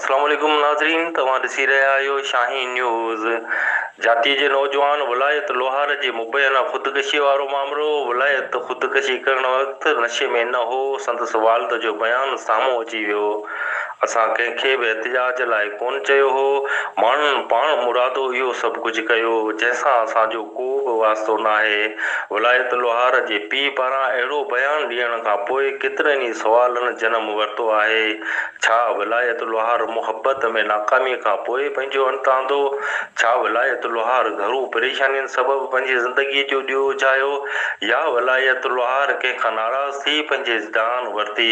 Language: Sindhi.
اسلام عليڪم ناظرين توهان ڏسي رهيا آهيو شاهين نيوز جاتي جي نوجوان ولايت لوهار جي مبينا خودڪشي وارو معاملو ولايت خودڪشي ڪرڻ وقت نشي ۾ نه هو سندس والد جو بيان سامهون اچي ويو اسان ڪنهن کي به احتجاج لاء ڪونه چيو هو. ماڻهن پاڻ مرادو اهو سڀ ڪجهه ڪيو، جنهن سان اسان جو ڪو به واسطو ناهي. ولايت لوهار جي پيء پاران اهڙو بيان ڏيڻ کان پوء ڪيترن ئي سوالن جنم ورتو آهي. ڇا ولايت لوهار محبت ۾ ناڪاميء کان پوء پنهنجو انت آندو؟ ڇا ولايت لوهار گهرو پريشانين سبب پنهنجي زندگيء جو ڏيئو اجهايو يا ولايت لوهار ڪنهن کان ناراض ٿي پنهنجي جان ورتي؟